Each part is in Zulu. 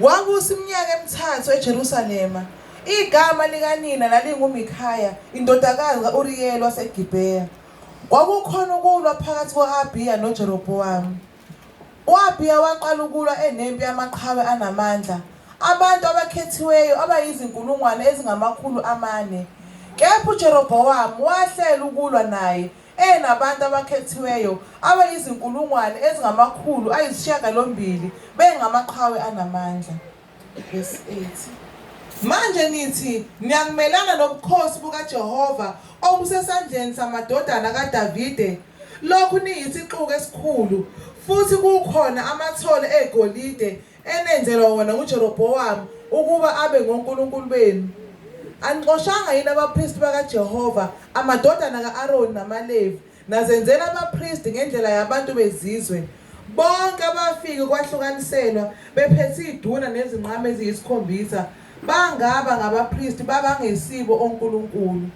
Wabusa iminyaka emithathu eJerusalema. Igama likanina lalinguMikhaya, indodakazi ka-Uriyeli waseGibheya. Kwakukhona ukulwa phakathi kwa-Abiya noJerobhowamu. U-Abiya waqala ukulwa enempi yamaqhawe anamandla. Abantu abakhethiweyo abayizinkulungwane ezingamakhulu amane. Kepha uJerobhowamu wahlela ukulwa naye eyenabantu abakhethiweyo abayizinkulungwane ezingamakhulu ayisishiyagalombili bengamaqhawe anamandla. Verse 8. Manje nithi niyakumelana nobukhosi bukaJehova obusesandleni samadodana kaDavide lokhu niyisixuku esikhulu futhi kukhona amathole egolide enenzelwa wona nguJerobhowamu ukuba abe ngonkulunkulu benu? Anixoshanga yini abapristi bakaJehova, amadodana ka-Aroni namaLevi, nazenzela abapristi ngendlela yabantu bezizwe? Bonke abafike ukwahlukaniselwa bephethe iduna nezinqama eziyisikhombisa bangaba ngabapristi babangesibo onkulunkulu.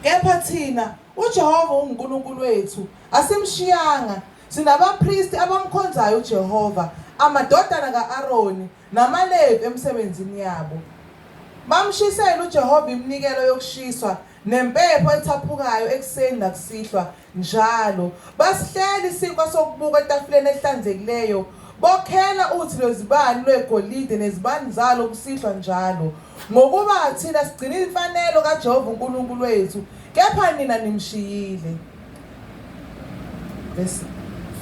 Kepha thina uJehova unguNkulunkulu wethu, asimshiyanga Sinabapristi abamkhonzayo uJehova, amadodana ka-Aroni namaLevi emisebenzini yabo. Bamshisela uJehova iminikelo yokushiswa nempepho ethaphukayo ekuseni nakusihlwa njalo. Basihlela isinkwa sokubuka etafuleni ehlanzekileyo bokhela uthi lwezibani lwegolide nezibani zalo kusihlwa njalo ngokuba thina sigcina imfanelo kaJehova uNkulunkulu wethu kepha nina nimshiyile Verse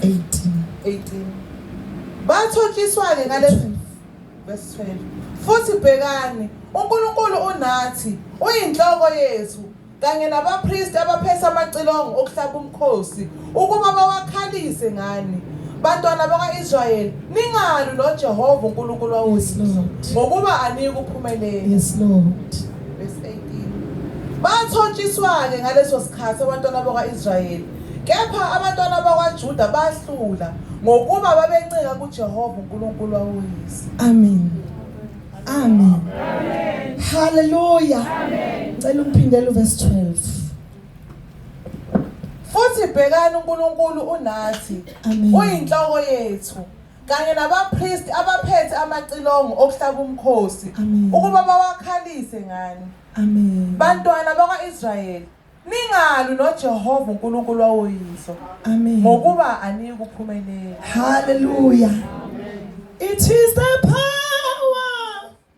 18. 18. Bathotshiswa-ke ngalezi verse 12. Futhi bhekani, uNkulunkulu unathi, uyinhloko yethu, kanye nabapristi abaphethe amacilongo okuhlaba umkhosi, ukuba bawakhalise ngani. Bantwana bakwa-Israyeli, ningalwi noJehova uNkulunkulu wawusizo, ngokuba aniyikuphumelela. Yes, Lord. Bathontshiswa-ke ngaleso sikhathi abantwana bakwa-Israyeli, kepha abantwana bakwaJuda bahlula ngokuba babencika kuJehova uNkulunkulu wawoyise. Amen. Amen. Hallelujah. Ngicela ungiphindele uverse 12. Futhi bhekani uNkulunkulu unathi, Amen. uyinhloko yethu. kanye nabapristi abaphethe amacilongo okuhlaba umkhosi Amen. ukuba bawakhalise ngani Amen. bantwana bakwa-israyeli ningalwi nojehova unkulunkulu wawoyihlo Amen. ngokuba aniyi kuphumelela Hallelujah. It is the power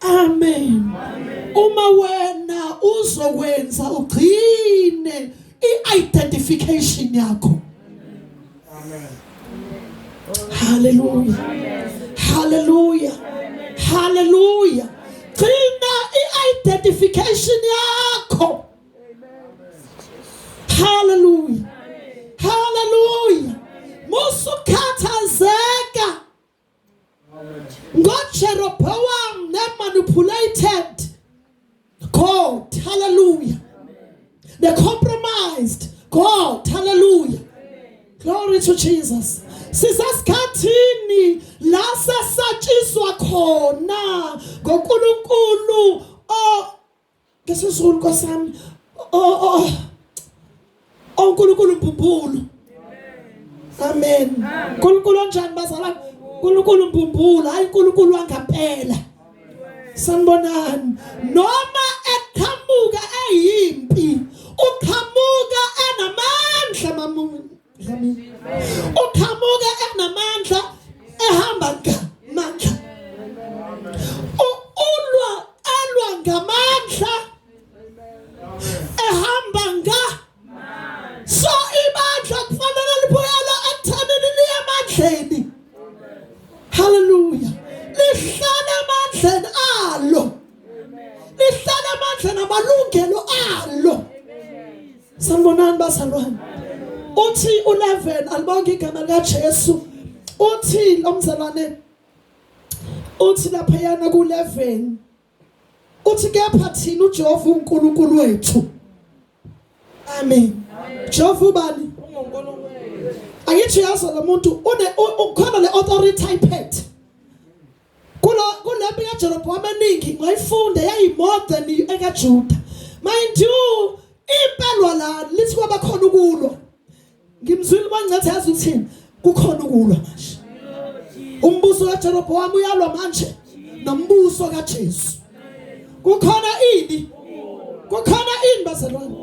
Amen. Uma wena uzokwenza ugcine i-identification yakho. Amen. Hallelujah. Hallelujah. Hallelujah. Gcina i-identification yakho. Hallelujah. Hallelujah. Musukhathazeka NgoJeroboam ne-manipulated God, hallelujah. They compromised God, hallelujah. Glory to Jesus. Sisesikhathini la sesatshiswa khona ngoNkulunkulu o Ngesusuku Nkosi yami. Oh oh. Oh uNkulunkulu mbumbulu. Amen. Nkulunkulu onjani bazalwane? Nkulunkulu mbumbulu, hayi Nkulunkulu wangampela. Sanibonani. Noma eqhamuka eyimpi, uqhamuka enamandla mamuntu. uqhamuke enamandla ehamba ngamandla ulwa alwa ngamandla ehamba nga so ibandla kufanele libuyela ekuthaneni liye emandleni haleluya lihlale emandleni alo lihlale emandleni amalungelo alo Sanibonani bazalwane. Uthi u11 alibonke igama lika Jesu. Uthi lo mzalwane uthi lapha yana ku11 uthi kepha thina uJehova uNkulunkulu wethu amen Jehova ubani angithi yazi lo muntu une ukhona le authority iphethe kulo kulempi kaJerobowamu eningi ngayifunda yayimodza ni ekaJuda mind you impelwa la lithi kwaba khona ukulwa ngimzwile mangathi yazi uthini kukhona ukulwa manje umbuso kaJerobowamu uyalwa manje nombuso kaJesu kukhona ini kukhona ini bazalwane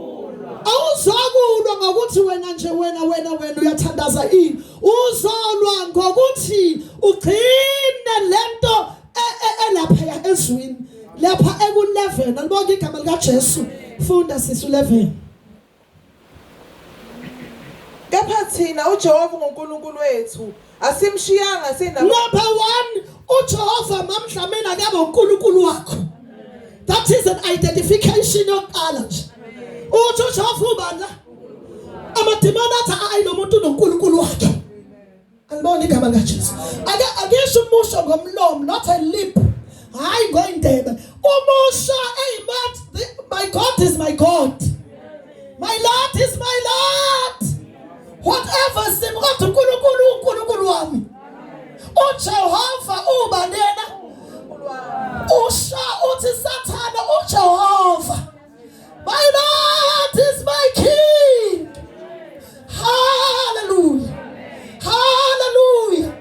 awuzokulwa ngokuthi wena nje wena wena wena uyathandaza ini uzolwa ngokuthi ugcine lento e, e, elapha ezwini lapha eku-11 alibonke igama likaJesu funda sisi 11 Kepha thina uJehova uNkulunkulu wethu asimshiyanga sina Number 1 uJehova mamdlamela akabe uNkulunkulu wakho. That is an identification yokuqala nje. Uthi uJehova ubani la? Amadimoni athi ayi lo muntu uNkulunkulu wakhe. Alibona igama likaJesu. Ake akesho umusho ngomlomo not a lip. Hayi ngoyindebe. Umusho hey but the, my God is my God. My Lord is my Lord. Whatever sim kodwa uNkulunkulu uNkulunkulu wami. UJehova uba lena. Usho uthi sathana uJehova. My Lord is my King. Hallelujah. Hallelujah.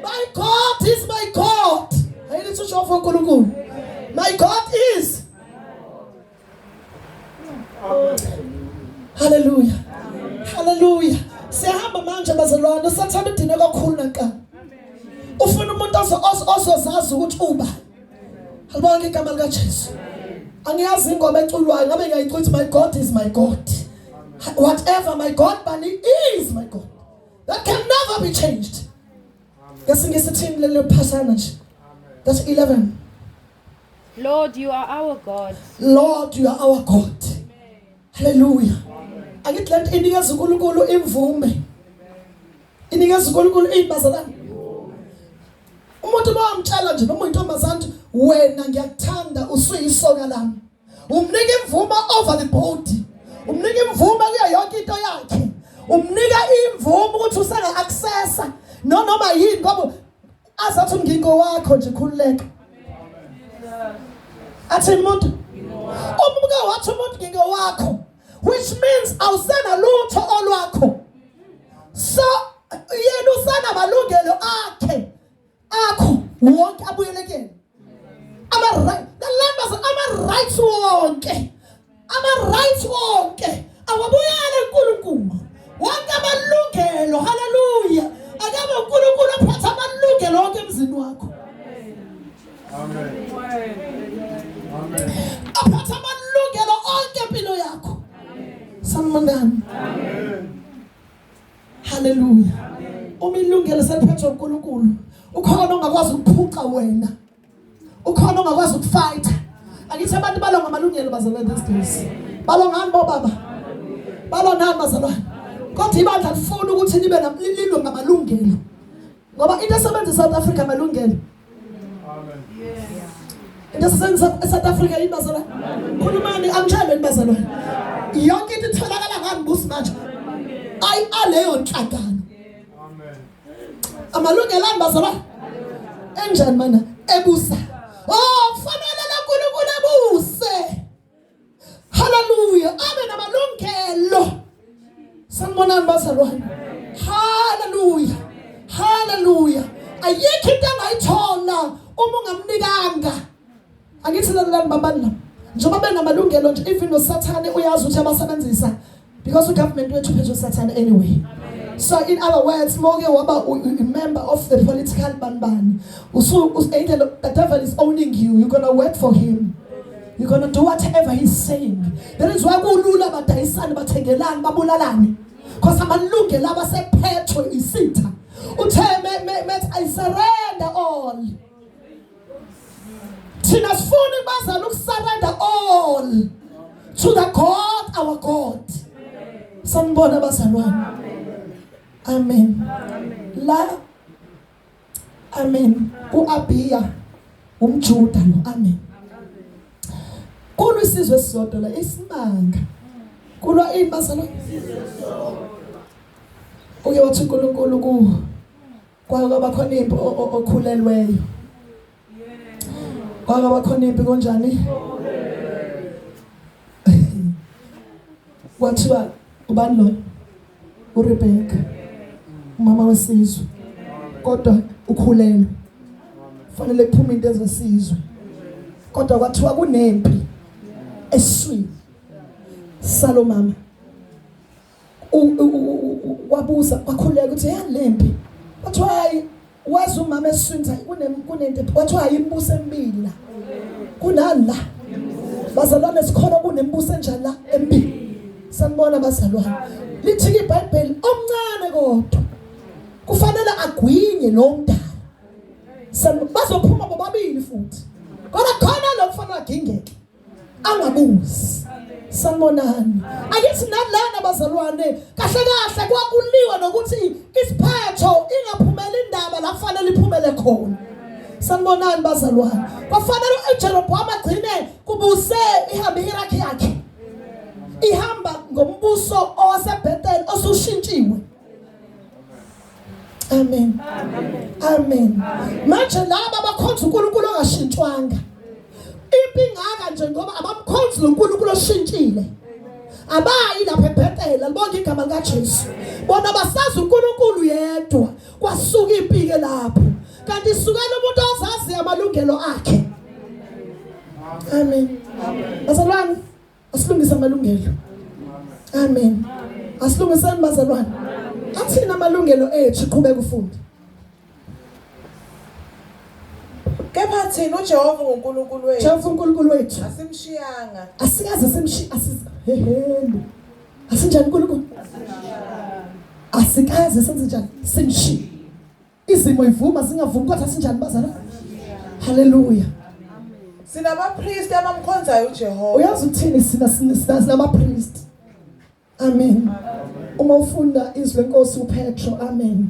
My God is my God. Hayilithi usho for uNkulunkulu. My God is. Hallelujah. Hallelujah. Siyahamba manje bazalwane, usathanda udine kakhulu naqala. Ufuna umuntu ozozazi ukuthi uba Alibonke igama likaJesu. Angiyazi ingoma eculwayo ngabe ngiyayicuthi my God is my God. Whatever my God but he is my God. That can never be changed. Ngesinye isithini lelo phasana nje. That's 11. Lord, you are our God. Lord, you are our God. haleluya angithi le nto inikeza unkulunkulu imvume inikeza unkulunkulu iy'bazalane umuntu uma wamtshela nje noma uyintombazane wena ngiyakuthanda usuyisoka lami umnika imvume over the body umnika imvume kuyo yonke into yakhe umnika imvume ukuthi useka accessa nonoma yini ngoba azathi ngiko wakho nje khululeka athi umuntu umbuka wathi umuntu ngiko wakho which means awusena lutho olwakho so yena usana malungelo akhe akho wonke abuyelekeni ama right the land was ama rights wonke ama rights wonke awabuyele uNkulunkulu wonke amalungelo haleluya akaba uNkulunkulu ophethe amalungelo wonke emzini wakho amen amen aphethe amalungelo onke empilo yakho amen sanibonani amen Hallelujah. Uma ilungelo seliphethwe uNkulunkulu, ukhona ongakwazi ukuphuca wena. Ukhona ongakwazi ukufight. Angithi abantu balonga amalungelo bazalwane these days. Balongani bo baba? Balonani bazalwane? Kodwa ibandla lifuna ukuthi libe nalilwe ngamalungelo. Ngoba into esebenza eSouth Africa amalungelo into esisenza eSouth Africa yini bazalwane khulumani angitshele yini bazalwane yonke into itholakala ngami busi manje ayi aleyo nhlangano amalungelo ami bazalwane enjani mana ebusa oh kufanele uNkulunkulu abuse Hallelujah. Abe namalungelo. Sanibonani bazalwane. Hallelujah. Hallelujah. Ayikho into angayithola uma ungamnikanga. Angithi lalelani babani la. Njengoba benamalungelo nje even noSathane uyazi ukuthi abasebenzisa because ugovernment wethu phethwe sathane anyway so in other words moke waba member of the political banibani usu either the devil is owning you you're gonna work for him you're gonna do whatever he's saying that is why kulula badayisane bathengelani babulalane because amalungelo abasephethwe isitha uthe methi i surrender all thina sifuna bazama ukusarenda all to the god our god sanibona abazalwane amen la amen uabiya umjuda lo amen kulwa isizwe esisodwa la isimanga kulwa ini bazalwane uke wathi uNkulunkulu ku Kwake kwaba khona impi okhulelweyo. Kwake kwaba khona impi konjani? Kwathiwa ubani lo? URebecca. Umama wesizwe. Kodwa ukhulelwe. Fanele kuphume into ezesizwe. Kodwa kwathiwa kunempi eswini. Salomama. wabuza wakhuleka ukuthi yalempi wathiwa hayi wazi umama esiswini hayi kunento wathiwa hayi imibuso emibili la kunani la bazalwane sikhona kunemibuso enjani la emibili sanibona bazalwane lithi ibhayibheli omncane kodwa kufanele agwinye lo mdala bazophuma bobabili futhi kodwa khona lo mfana agingeke angabuzi sanibonani angithi nalana bazalwane kahle kahle kwakuliwa nokuthi isiphetho ingaphumela indaba la kufanele iphumele khona sanibonani bazalwane kwafanele uJeroboam agcine kubuse ihambe iRakhe yakhe ihamba ngombuso owaseBethel osushintshiwe Amen. Amen. Manje laba abakhonza uNkulunkulu ongashintshwanga. Impi ingaka nje ngoba abamkhonzi loNkulunkulu oshintshile. Abayi lapha eBethel, libonke igama lika Jesu. Bona basazi uNkulunkulu yedwa. Kwasuka impi ke lapho. Kanti isukela umuntu ozazi amalungelo akhe. Amen. Bazalwane Asilungise amalungelo. Amen. Asilungisani bazalwane. Athina amalungelo ethu qhubeka ufunde. Kepha thina uJehova uNkulunkulu wethu. Jehova uNkulunkulu wethu. Asimshiyanga. Asikaze simshiya asiza. Heheni. Asinjani uNkulunkulu? Asikaze senze njani? Simshiya. Izimo ivuma singavumi kodwa sinjani bazalwane? Hallelujah. Sinabapriest abamkhonzayo uJehova. Uyazi ukuthini sina sina sinabapriest. Amen. Uma ufunda izwi lenkosi uPetro, amen.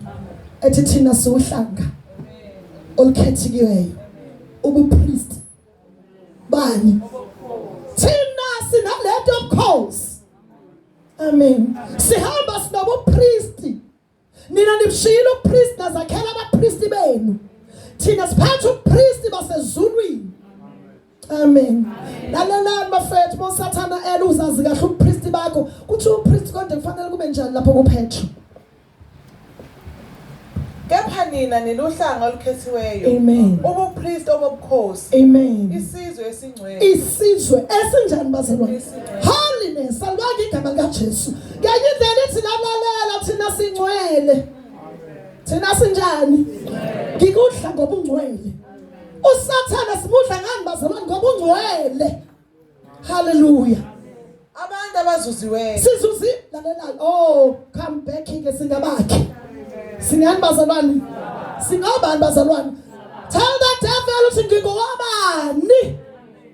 Ethi thina siwuhlanga olukhethikiweyo. Ubupriest bani? Thina sinalento yobukhosi. Amen. Sihamba sinobupriest nina nibishiyile ubupristi nazakhela abapristi benu thina siphatha ubupristi basezulwini amen lalelani bafethu bosathana ela uzazi kahle ubupristi bakho kuthi upristi konje kufanele kube njani lapho kuphethwe kepha nina niluhlanga olukhethiweyo amen ubupriest obobukhosi amen isizwe esingcwele isizwe esinjani bazalwane holiness alibanga igama likaJesu Ngenye indlela ithi lalalela thina singcwele. Thina sinjani? Ngikudla ngoba ungcwele. USathane simudla ngani bazalwane ngoba ungcwele. Hallelujah. Abantu abazuziweyo. Sizuzi lalela. Oh, come back ke singabakhe. Singani bazalwane? Singobani bazalwane? Tell the devil ukuthi ngingowabani.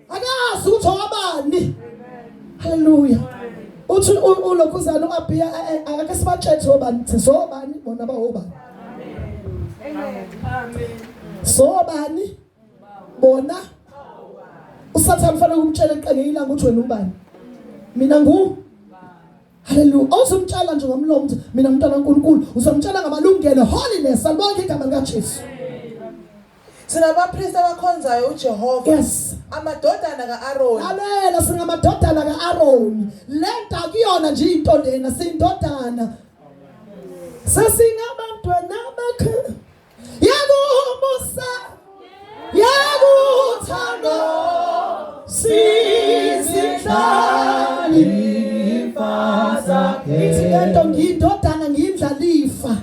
akazi ukuthi owabani haleluya uthi ulokhuzana uAbiya eh, eh, akake sibatshethe obani sizobani bona bawoba amen amen sobani bona usathane ufanele ukumtshela eqenge ilanga ukuthi wena ubani mina ngu Haleluya. Awuzumtshela nje ngomlomo ukuthi mina umntwana kaNkulunkulu, uzomtshela ngamalungelo holiness alibonke igama likaJesu. Singabapristi abakhonzayo uJehova. Yes. Amadodana kaAroni. Lalela singamadodana kaAroni. Lento akuyona nje into lena sindodana. Sesingabantwana bakhe. Yakumusa. Yakuthando. Sizihlali ifa zakhe. Ithi lento ngiyindodana ngiyindlalifa.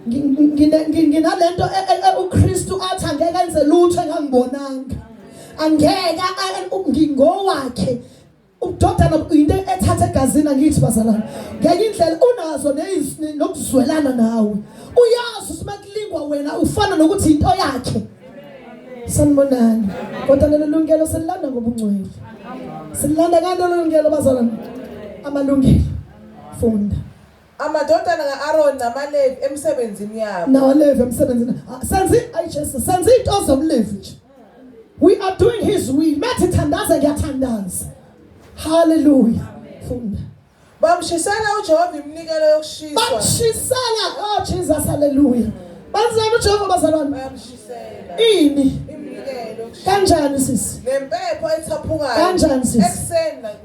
nginalento e, e, e, uKristu athi angeke enze lutho engangibonanga angeke ngingowakhe udodana into ethatha egazini angithi bazalana ngenye indlela unazo nokuzwelana nawe uyazi ukuthi makulingwa wena ufana nokuthi into yakhe sanibonani kodwa lelo lungelo sililanda ngobungcwele sililanda kanti lelo lungelo bazalana amalungelo funda Amadodana ka-Aroni namaLevi emsebenzini yabo. NamaLevi emsebenzini. Ah, senzi ayi Jesu, senzi into zomLevi nje. We are doing his will. Methi thandaza ngiyathandaza. Hallelujah. Funda. Bamshisela uJehova iminikelo yokushiswa. Bamshisela oh Jesus hallelujah. Benzani uJehova bazalwane? Bamshisela. Ini? Iminikelo. Kanjani sisi? Nempepho ethaphukayo. Kanjani sisi? Ekuseni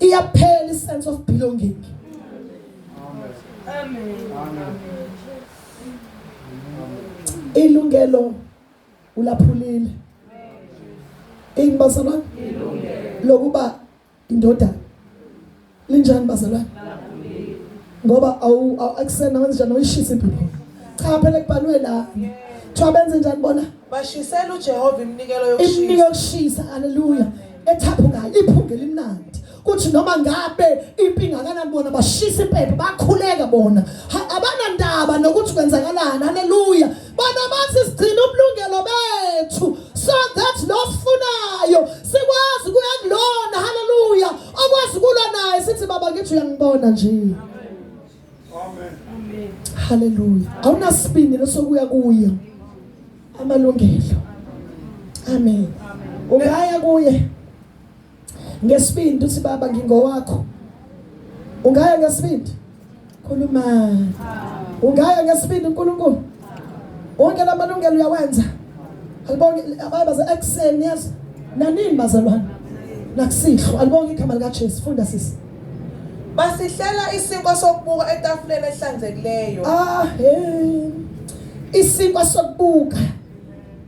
iyaphela isense of belonging amen amen ilungelo ulaphulile ini bazalwane lokuba indodana linjani bazalwane ngoba awu akusena wenze njani uyishisa impilo cha phela kubhalwe la kuthiwa benze njani bona Bashisela uJehova iminikelo yokushisa. Iminikelo yokushisa, haleluya. Ethaphukayo, iphunge limnandi. kuthi noma ngabe impi ingakanani bona bashisa impepho bakhuleka bona abanandaba nokuthi kwenzakalani haleluya bona bathi sigcina ubulungelo bethu so that losifunayo sikwazi kuya kulona haleluya okwazi kulwa naye sithi baba ngithi uyangibona nje Amen. Hallelujah. Awunasibindi lesokuya kuye. Amalungelo. Amen. Ungaya kuye. Ngesibindi uthi baba ngingowakho. Ungaya ngesibindi. Khuluma. Ungaya ngesibindi uNkulunkulu. wonke lamalungelo uyawenza alibonge abaye baze ekuseni yazi nanini bazalwane nakusihlwa alibonge igama likaJesu funda sisi basihlela isinkwa sokubuka etafuleni ehlanzekileyo ah hey isinkwa sokubuka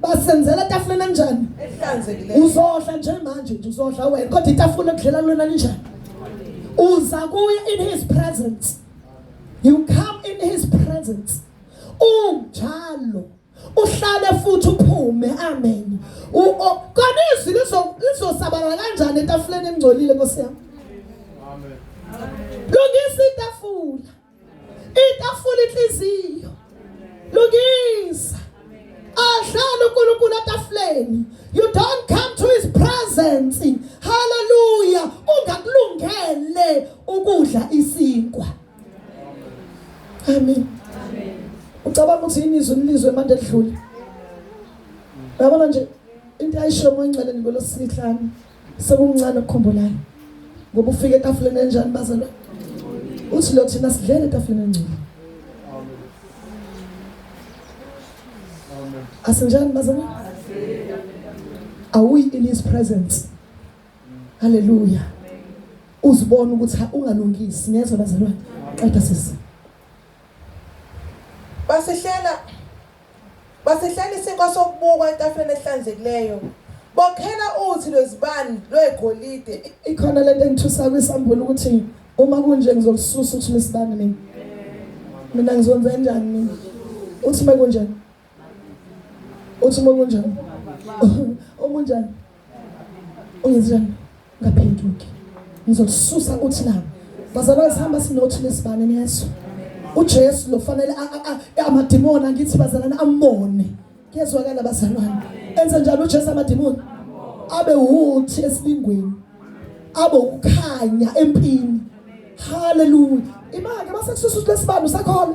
basenzela etafuleni enjani ehlanzekileyo uzodla nje manje nje uzodla wena kodwa itafula okudlela lona linjani uza kuye in his presence you come in his presence unjalo uhlale futhi uphume amen kona izwi lizosabalala kanjani etafuleni engcolile nkosi yami amen lungisa itafula itafula inhliziyo lungisa ahlala uNkulunkulu etafuleni you don't come to his presence hallelujah ungakulungele ukudla isinkwa Amen. Amen. Ucabanga ukuthi yini izwi lizwe manje edlule? Yabona nje into ayisho moyingcwele ngolosihlanu sekuncane ukukhumbulayo. Ngoba ufike etafuleni enjani bazalwa? Uthi lo thina sidlele etafuleni engcwele. Asinjani bazalwa? Are we in his presence? haleluya uzibona ukuthi ungalungisi niyezwa bazalwane qeda sisi basihlela basihlela isinkwa sokubukwa etafuleni ehlanzekileyo bokhela uthi lwezibani lwegolide ikhona lento engithusa kwisambulo ukuthi uma kunje ngizokususa ukuthi lesibani mina mina ngizonze njani mina uthi uma kunjani Uthi uma kunjani? Omunjani? Ungenzani? Ngaphenduki. Ngizosusa uthi la. Bazalwane sihamba sinothi lesibane niyezwa. uJesu lo fanele amadimoni angithi bazalwane amone kuyezwakala bazalwane enze njalo uJesu amadimoni abe wuthi esilingweni abe ukukhanya empini haleluya imake basekususa lesibani usakhona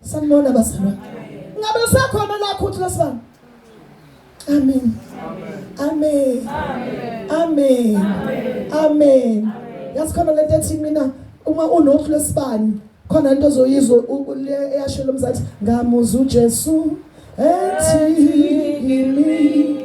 Sanibona bazalwane. Ngabe usakhona la khuthi lesibani? Amen. Amen. Amen. Amen. Yasikhona lento ethi mina uma unohlu lesibani khona into ozoyizwa le eyashela umzathi ngamuza uJesu ethi kimi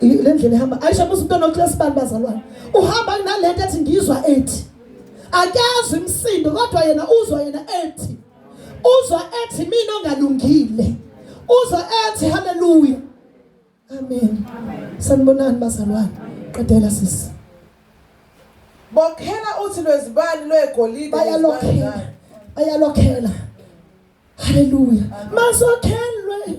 le ndlela ihamba ayisho musa umntwana weclass bani bazalwane uhamba nalento ethi ngizwa ethi akazwi msindo kodwa yena uzwa yena ethi uzwa ethi mina ongalungile uzwa ethi haleluya amen sanibonani bazalwane qedela sisi bokhela uthi lwezibani lwegolide bayalokhela bayalokhela haleluya masokhelwe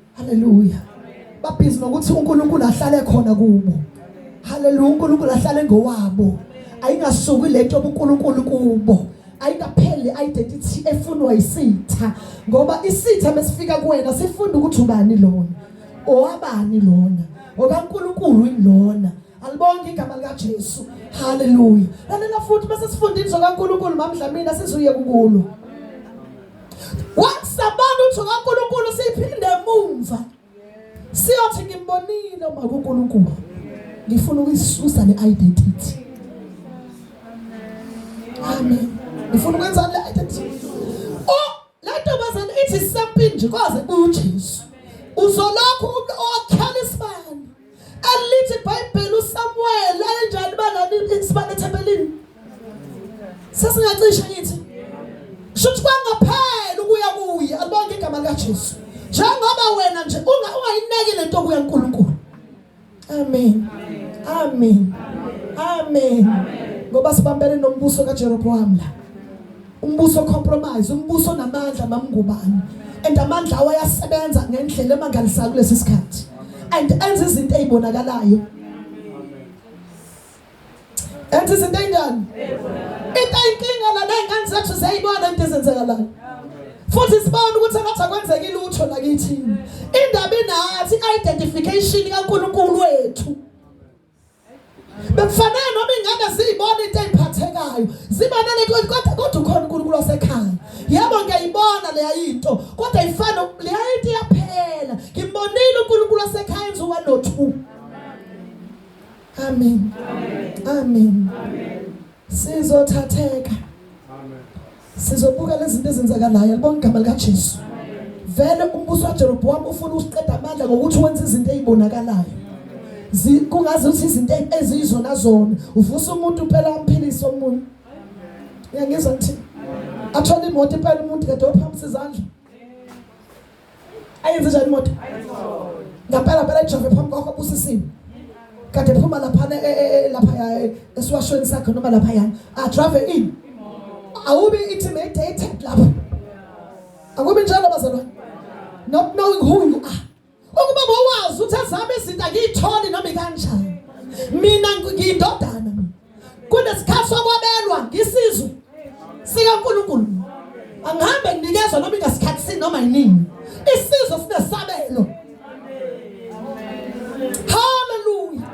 Haleluya. Babhizi nokuthi uNkulunkulu ahlale khona kubo. Haleluya, uNkulunkulu ahlale ngowabo. Ayingasuki lento obuNkulunkulu kubo. ayikapheli identity efunwa isitha ngoba isitha mesifika kuwena sifunda ukuthi ubani lona owabani lona okaNkuluNkulu ilona alibonke igama lika Jesu haleluya lalela futhi bese sifunda inzo kaNkuluNkulu mamdlamini asizuye kukulo Wakusabona uthi kaNkulunkulu siphinde emumva. Siyothi ngimbonile uma kuNkulunkulu. Ngifuna ukuyisusa le identity. Amen. Ngifuna ukwenza le identity. Oh, la ntombazane ithi sempini nje kwaze kuJesu. Uzolokhu okhala isibani. Alithi iBhayibheli uSamuel ayenjani banani isibane ethempelini? Sesingacisha ngithi. Shuthi kwangaphela ukuya kuye alibonke igama likaJesu. Njengoba wena nje ungayineki lento kuya uNkulunkulu. Amen. Amen. Amen. Ngoba sibambene nombuso kaJeroboam la. Umbuso compromise, umbuso onamandla mamngubani. And amandla awo ayasebenza ngendlela emangalisayo kulesi sikhathi. And enza izinto ezibonakalayo. Enza izinto ezinjani? Into inkinga la nezingane zethu ziyayibona into ezenzekalayo. Futhi sibona ukuthi ngathi akwenzeki lutho la kithini. Indaba inathi identification kaNkulunkulu wethu. Bekufanele noma ingane ziyibona into eziphathekayo. Zibanele kodwa kodwa ukhona uNkulunkulu wasekhaya. Yebo ngiyayibona leya into kodwa ifana leya into iyaphela. Ngimbonile uNkulunkulu wasekhaya enza one or two. Amen. Amen. Amen. Sizothatheka. Sizobuka lezinto ezenzakalayo libona igama lika Jesu. Vele umbuso waJeroboam ufuna usiqeda amandla ngokuthi wenza izinto ezibonakalayo. Kungaze uthi izinto ezizona zona uvusa umuntu phela amphilise omunye. Uyangizwa ngithini? Athola imoto phela umuntu kade ophamisa izandla. ayenze njani imoto ngempela phela ijove phambi kwakho busisiwe kade phuma laphana e, e, e, lapha esiwashweni sakhe noma lapha yana adrave in awubi intimidated lapho akubi njalo bazalwane not knowing who you are ukuba bowazi ukuthi azame izinto angiyitholi noma ikanjani mina ngiyindodana kunesikhathi sokwabelwa ngisizwe sikaNkulunkulu angihambe nginikezwa noma ingasikhathi sini noma yinini isizwe sinesabelo haleluya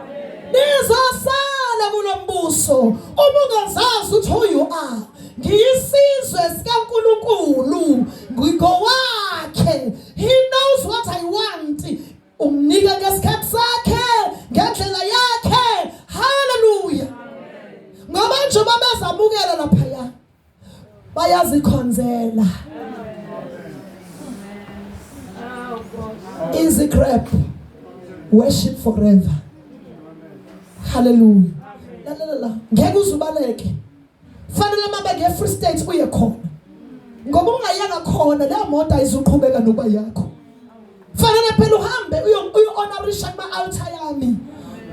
nizosala kulo mbuso uma ungazazi ukuthi who you are ngiyisizwe sikaNkulunkulu ngigowakhe he knows what i want Umnika ngesikhathi sakhe ngendlela yakhe. Haleluya. Ngoba nje babezamukela lapha ya. Bayazikhonzela. Easy grab. Worship forever. Hallelujah. La la la. Ngeke uzubaleke. Fanele uma beke Free State uye khona. Ngoba ungayeka khona leyo moto ayizuqhubeka nokuba yakho. Fanele phela uhambe uyo uyo honorisha kuma altar yami.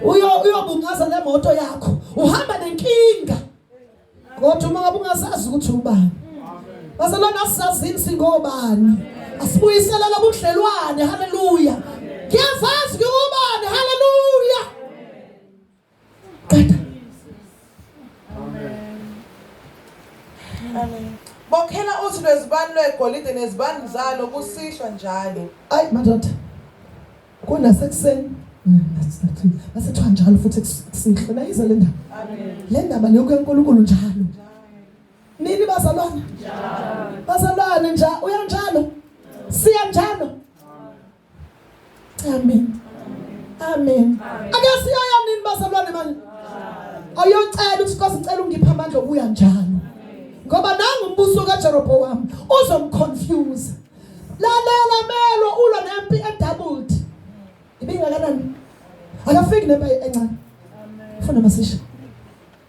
Uyo uyobungaza le moto yakho. Uhamba nenkinga. Kodwa uma ngabe ungasazi ukuthi ubani. Basalona asizazini singobani. Asibuyisela lobudlelwane. Hallelujah. Ngiyazazi ngubani. Hallelujah. qeda bokhela uthi lwezibani lwegolide nezibani zalo kusihlwa njalo ayi madoda kunasekuseni masethiwa mm, njalo futhi kusihlwa nayiza le ndaba le ndaba leyoku yenkulunkulu njalo nini bazalwane bazalwane nja uyanjalo siyanjalo Amen. Amen. Akasiyoya nini bazalwane manje? Ayocela ukuthi Nkosi ngicela ungiphe amandla okuya njalo. Ngoba nangu umbuso kaJeroboam uzomconfuse. Lalela melo ulwa nempi edoubled. Ibingakanani? Akafiki nempi encane. Funa masisha.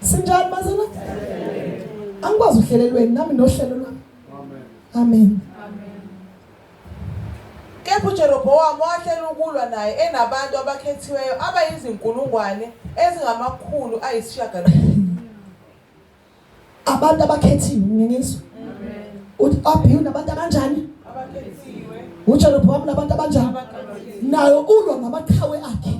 Sinjani bazalwane? Angikwazi uhlelelweni nami nohlelo lwami. Amen. Kepha uJerobowamu wahlela ukulwa naye enabantu abakhethiweyo abayizinkulungwane ezingamakhulu ayisishiyagalolunye. abantu abakhethiwe ngingizwa uthi abiwu nabantu abanjani abakhethiwe uJeroboam nabantu abanjani nayo ulwa namaqhawe akhe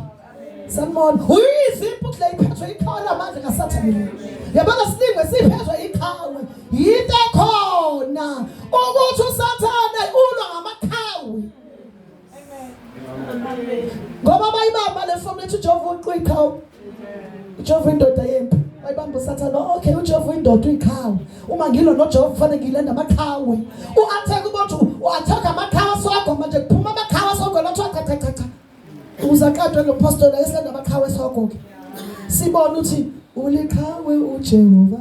sanibona uyiziphi ukuthi la iphethwe iqhawe lamandla kasathane yabona silinge siphethwe iqhawe yinto ekhona ukuthi usathane ulwa ngamaqhawe ngoba bayibamba le fomu lethi ujehova uqu iqhawe ujehova indoda yempi bayibamba usathane okay ujehova uyindoda uyiqhawe uma ngilo nojehova kufanele ngilenda amaqhawe u-atheka ukuthi u-atheka amaqhawe asogwa manje kuphuma amaqhawe asogwa lathiwa cha cha cha cha ukuze aqadwe lo postoli ayeselenda amaqhawe esogwa-ke sibone ukuthi uliqhawe ujehova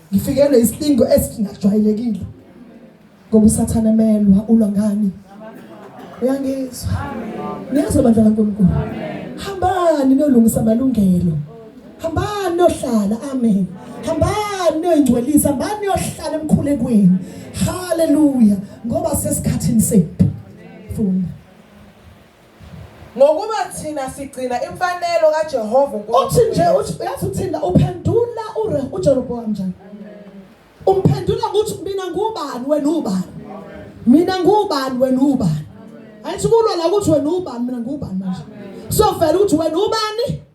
ngifikelwe isilingo esingajwayelekile ngoba usathane emelwa ulwa ngani uyangizwa niyazi bandla kaNkulunkulu hambani nolungisa amalungelo hambani nohlala amen hambani noyingcwelisa hambani yohlala emkhulekweni haleluya ngoba sesikhathini sethu funda Ngokuba thina sigcina imfanelo kaJehova uNkulunkulu. Uthi nje uthi uyazi uthinda uphendula ure uJeroboam njani? Umphendula ukuthi mina ngubani wena ubani? Mina ngubani wena ubani? Ayithi kulwa la ukuthi wena ubani mina ngubani manje. So vele ukuthi wena ubani?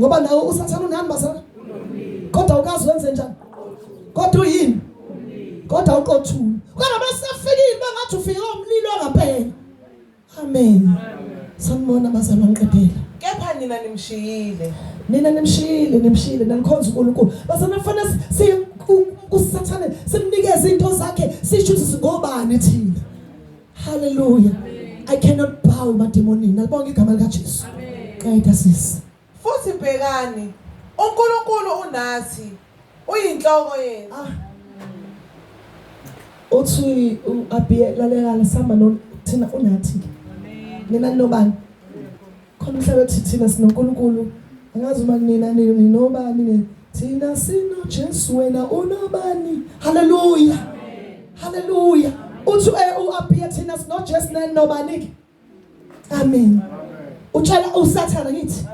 ngoba nawe usathana unani bazalwane kodwa ukazi wenze njani kodwa uyini kodwa uqothula kodwa basafikile bangathi ufike umlilo ngaphela amen sanibona bazalwa ngiqedela kepha nina nimshiyile nina nimshiyile nimshiyile nanikhonza uNkulunkulu bazana kufanele si kusathane simnikeze into zakhe sisho ukuthi singobani thina Hallelujah. I cannot bow mademonini. Alibonga igama lika Jesu. Qeda sisi. Futhi bhekani, uNkulunkulu unathi. Uyinhloko yenu. Ah. Uthi uAbiye lalela samba no thina unathi. Amen. Nina nobani? Khona umhlaba ethi thina sinoNkulunkulu angazi uma nina ninobani nina thina sinoJesu wena unobani haleluya haleluya uthi eh, uAbiya thina sinoJesu nani nobani amen utshela usathana ngithi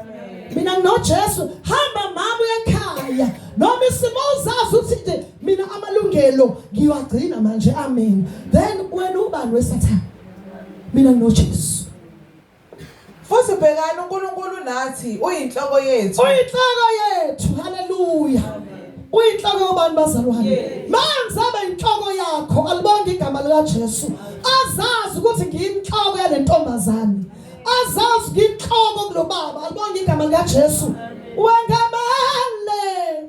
mina nginoJesu hamba mama uyekhaya noma isimo uzazi uthi nje mina amalungelo ngiwagcina manje amen then wena ubani wesathana mina nginoJesu Futhi bhekani uNkulunkulu nathi uyinhloko yethu. Uyinhloko yethu. Haleluya. Uyinhloko yobani bazalwane? Manje abe inhloko yakho alibonge igama lika Jesu. Azazi ukuthi ngiyinhloko yale ntombazane. Azazi ngiyinhloko kulobaba alibonge igama lika Jesu. Wengamele.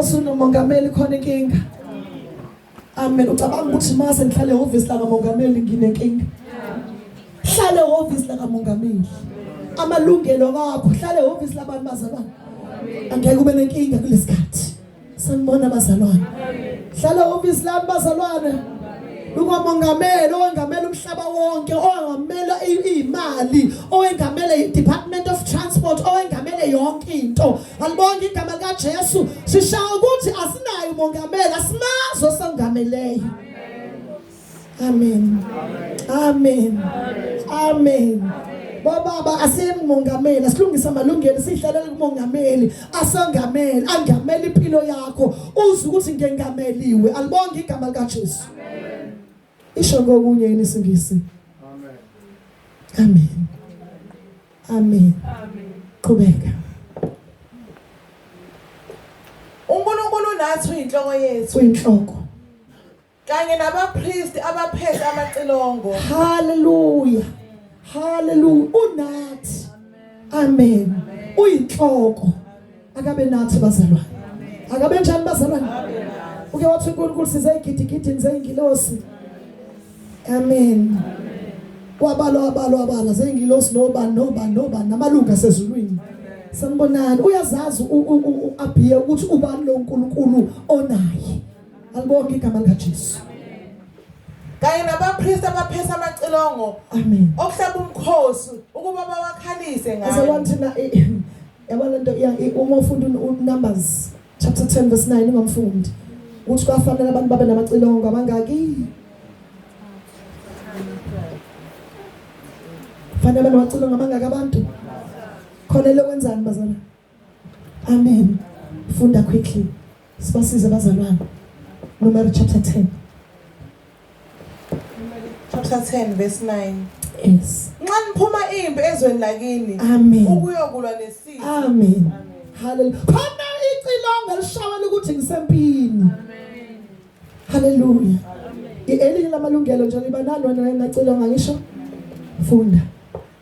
usunomongameli khona inkinga amen ucabanga ukuthi uma sengihlale ehhovisi lakamongameli nginenkinga hlale ehhovisi lakamongameli amalungelo wakho hlale ehhovisi labantu bazalwane angeke ube nenkinga kulesikhathi Sanibona bazalwane. Hlala office lami bazalwane. Ungomongameli owengamela umhlaba wonke, owengamela imali, owengamela i-Department of Transport, owengamele yonke into. Alibonge igama likaJesu. Sishawa ukuthi asinayo umongameli, asimazi osangameleyo. Amen. Amen. Amen. Bobaba asiyemongameli asilungise amalungelo sidlalela kumongameli asangameli angameli impilo yakho uze ukuthi ngengameliwe alibonge igama lika Jesu. Amen. Isho ngokunye yini isingisi? Amen. Amen. Amen. Amen. Qhubeka. uNkulunkulu nathi uyinhloko yethu uyinhloko kanye nabapristi abaphethe amacilongo haleluya haleluya unathi amen uyinhloko akabe nathi bazalwane akabe njani bazalwane uke wathi uNkulunkulu size igidigidi nize ingilosi amen wabalwa wabalwa wabala zengilosi noba noba noba namalunga sezulwini sanibonani uyazazi uAbiya ukuthi ubani lo nkulunkulu onaye Alibonke igama likaJesu. Kanye nabapriest abaphesa amacilongo. Amen. Okuhlaba umkhosi ukuba bawakhalise ngayo. As I want to know yabona nto uma ufunda uNumbers chapter 10 verse 9 ungamfundi. Uthi kwafanele abantu babe namacilongo abangaki? Fanele bacilongo abangaki abantu? Khona lokho kwenzani bazalwane? Amen. Funda quickly. Sibasize abazalwane. Numeri chapter 10. Chapter 10 verse 9. Yes. Nxa niphuma impi ezweni lakini. Amen. Ukuyokulwa nesizwe. Amen. Hallelujah. Khona icilongo lishawela ukuthi ngisempini. Amen. Hallelujah. Elinye lamalungelo nje liba nalo nangacela ngangisho funda.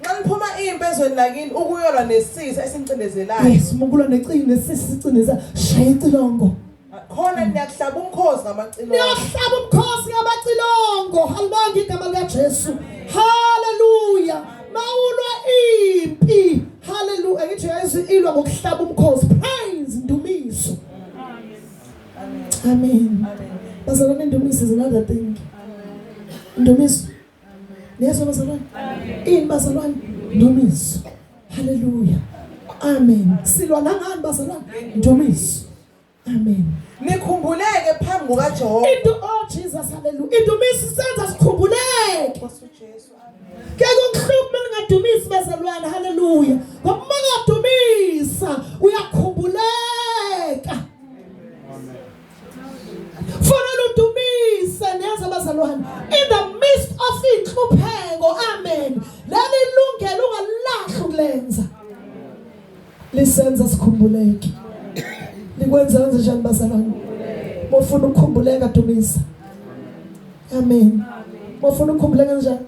Nxa niphuma impi ezweni lakini ukuyolwa nesisi esincindezelayo. Yes, mukulwa necini nesisi sicindeza shaya icilongo. khona niyakuhlaba umkhosi ngamacilongo niyakuhlaba umkhosi ngamacilongo halibanga igama likaJesu haleluya mawulwa impi haleluya ngithi yazi ilwa ngokuhlaba umkhosi Amen. Bazalwane indumiso is another thing. Indumiso. Yesu bazalwane. Ini bazalwane? Indumiso. Hallelujah. Amen. Silwa nangani bazalwane? Indumiso. Amen. Nikhumbuleke phambi kukaJehova. Into oh Jesus hallelujah. Indumiso senza sikhumbuleke. Ngeke ukuhluphe uma ningadumisi bazalwane. Haleluya. Ngoba uma ungadumisa uyakhumbuleka. Fanele udumise neze bazalwane. In the midst of inhlupheko. Amen. Leli lungelo ungalahla ukulenza. Lisenza sikhumbuleke. Likwenza kanjani bazalwane? Mofuna ukukhumbuleka dumisa. amen mofuna ukhumbula kanjani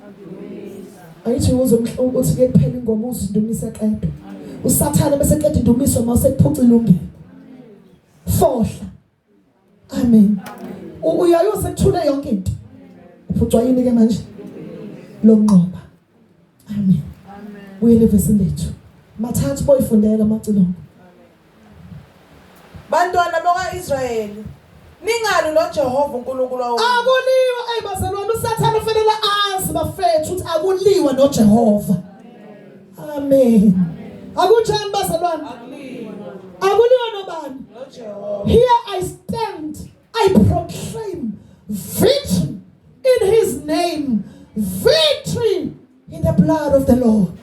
ayithi uze uthi ke kuphela ingoma uzindumisa qedwa usathana bese qeda indumiso uma usekuphuca ilungelo fohla amen uyaye usekuthule yonke into uphucwa yini ke manje lo nqoba Amen. Amen. Buyele evesini lethu. Mathathu boyifundela amacilongo. Bantwana bakaIsrayeli Ningalu lo Jehova uNkulunkulu wawo. Akuliwa ey bazalwane uSathane ufanele azi bafethu ukuthi akuliwa no Jehova. Amen. Akunjani bazalwane? Akuliwa. Akuliwa nobani? No Jehova. Here I stand I proclaim victory in his name, victory in the blood of the Lord.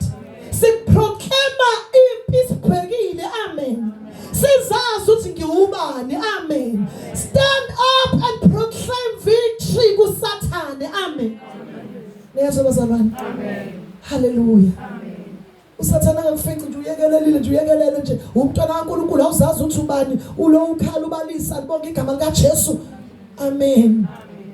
Siproclaima impi sibhekile. Amen. Sizazi ukuthi ngiwubani. Amen. Stand up and proclaim victory kuSathane. Amen. Niyazwa bazalwane? Amen. Hallelujah. Amen. usathane akakufici nje uyekelelile nje uyekelele nje umntwana kaNkulunkulu awuzazi uthi ubani ulo ukhala ubalisa libonga igama likaJesu amen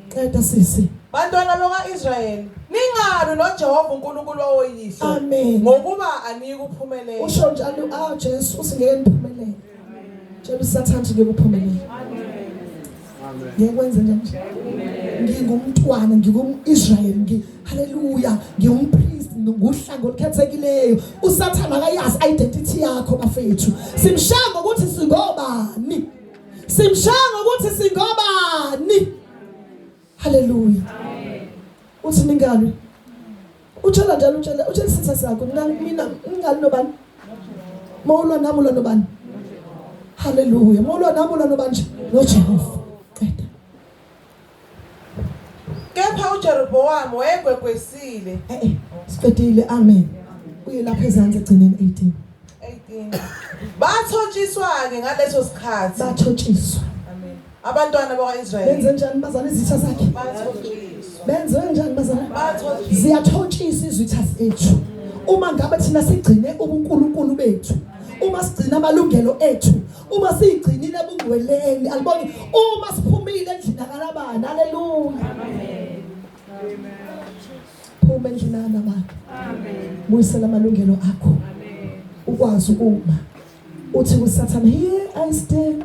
qeda sisi bantwana bakaIsrayeli ningalu noJehova uNkulunkulu woyihlo ngokuba aniyikuphumelela usho njalo ah Jesu usingeke niphumelele Tshela usathane ngeke uphumelele. Ngeke kwenze nje. Ngingumntwana, ngingumIsrael, ngi haleluya, ngingumpriest, nguhlanga olukhethekileyo. Usathane akayazi identity yakho bafethu. Simshaya ngokuthi singobani. Simshaya ngokuthi singobani. Haleluya. Amen. Uthi ningalo. Utshela njalo utshela utshela isitha sakho mina mina ngingali nobani? Mawulwa nami ulwa nobani? Haleluya. Mawulwa nami ulwa nobani nje? NoJehova. Qeda. Kepha uJerobowamu wayegwegwesile. Eh eh. Siqedile. Amen. Uye lapha ezansi egcineni 18. 18. Bathotshiswa ke ngaleso sikhathi. Bathotshiswa. Abantwana bakwa-Israyeli benze njani bazana izitha zakhe? Benze njani bazana? Ziyathotshisa izitha zethu. Uma ngabe thina sigcine ubuNkulunkulu bethu, uma sigcina amalungelo ethu, uma sigcinile ebungcweleni, aliboni uma siphumile endlini akalabani. Haleluya. Amen. Amen. Phuma endlini akalabani. Amen. Buyisela amalungelo akho. Amen. Ukwazi ukuma. Uthi kusathana, here I stand.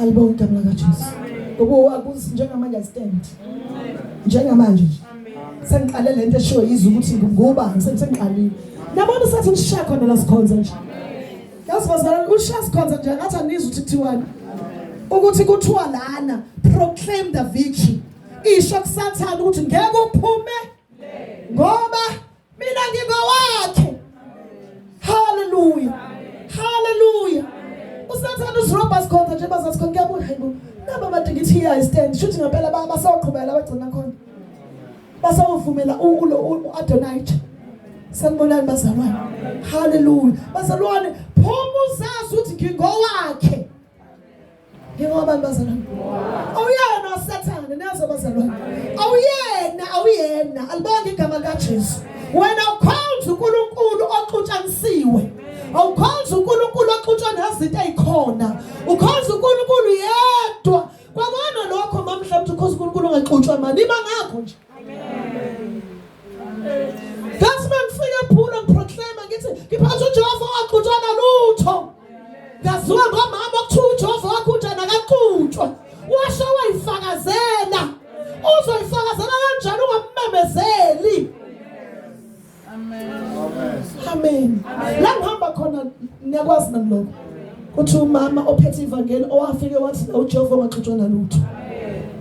Alibonga igama lakaJesu. Ngoba akuzi njengamanje stand. Njengamanje nje. Sengiqale lento eshiwo izwe ukuthi nguba sengiqalile. Nabona sathi ushaya khona la sikhonza nje. Yazi bazalwane ushaya sikhonza nje ngathi anizwa ukuthi kuthiwani. Ukuthi kuthiwa lana proclaim the victory. Isho kusathana ukuthi ngeke uphume ngoba mina ngingowakhe haleluya haleluya usathane usirobha sikhonza nje bazathi khona kuyabuya hayi bo naba bade ngithi iya stand shuthi ngempela basawuqhubela bagcina khona basawuvumela ulo u-adonite sanibonani bazalwane haleluya bazalwane phuma uzazi ukuthi ngingowakhe Njengoba bazalwane. Awuyena uSathane nazo bazalwane. Awuyena awuyena alibonge igama likaJesu. Wena ukhonza uNkulunkulu oxutshanisiwe. Awukhonza uNkulunkulu oxutshwa nezinto ezikhona. Ukhonza uNkulunkulu yedwa. Kwakona lokho mamhla mthi ukhonza uNkulunkulu ongaxutshwa mali. Iba ngakho nje. Ngathi mangifika eBhula ngiproclaima ngithi ngiphatha uJehova waqhutshwa nalutho. Ngaziwa ngomama okuthiwa uJehova waqhutshwa nakaqhutshwa. Washo wayifakazela. Uzoyifakazela kanjani ungammemezeli? Amen. Amen. La ngihamba khona niyakwazi nami lokho. Kuthi umama ophethe ivangeli owafike wathi la uJehova ungaxutshwa nalutho.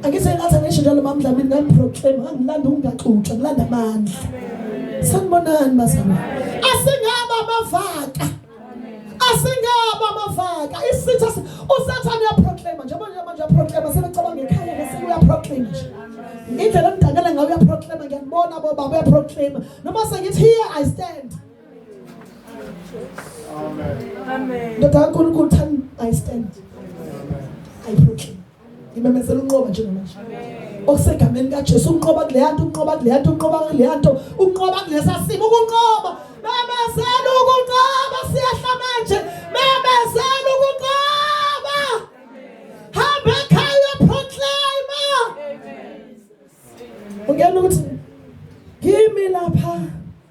Angithi ngathi angisho njalo mama Dlamini ngani proclaim angilanda ungaxutshwa ngilanda amandla. Sanibonani bazalwane. Asingaba abavaka. asingaba amavaka isitha usathane uyaproclaima njengoba nje manje uyaproclaima sebecabanga ekhaya bese uyaproclaima nje indlela emdakela ngayo uyaproclaima ngiyakubona bo baba uyaproclaima noma sengithi here i stand amen amen ndoda kaNkulunkulu thani i stand i proclaim ngimemezela unqoba njengamanje okusegameni kaJesu unqoba kuleya nto unqoba kuleya nto unqoba kuleya nto unqoba kulesa simo ukunqoba memezela ukunqoba siyahla manje memezela ukunqoba hamba ekhaya proclaimer ungena ukuthi kimi lapha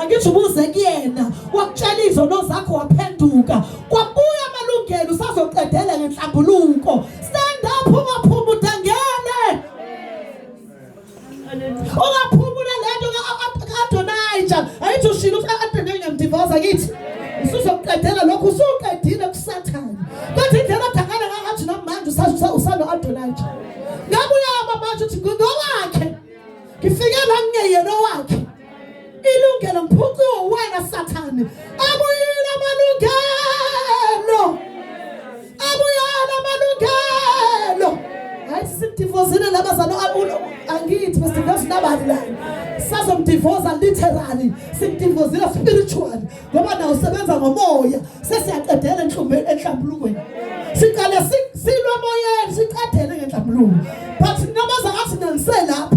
angithi ubuze kuyena wakutshela izono zakho waphenduka kwabuya amalungelo usazoqedela ngenhlambuluko stand up ungaphuma udangene ungaphumula lento ka-adonija ayithi ushilo ukuthi a-adonija ngiyamdivoza kithi usuzoqedela lokhu usuqedile kusathane kodwa indlela odangana ngakathi namanje usano-adonija ngabuya amamanje ukuthi ngowakhe ngifike la ngingeyena owakhe ilungelo mphucu wena sathane abuyile amalungelo abuyile amalungelo hayi sidivozile laba zalo abulo angithi besidivozile nabani la sazomdivoza literally sidivozile spiritual ngoba nawo sebenza ngomoya sesiyaqedela enhlumbeni enhlambulukweni siqale silwa moyeni siqedele ngenhlambuluko but namaza athi nanise lapho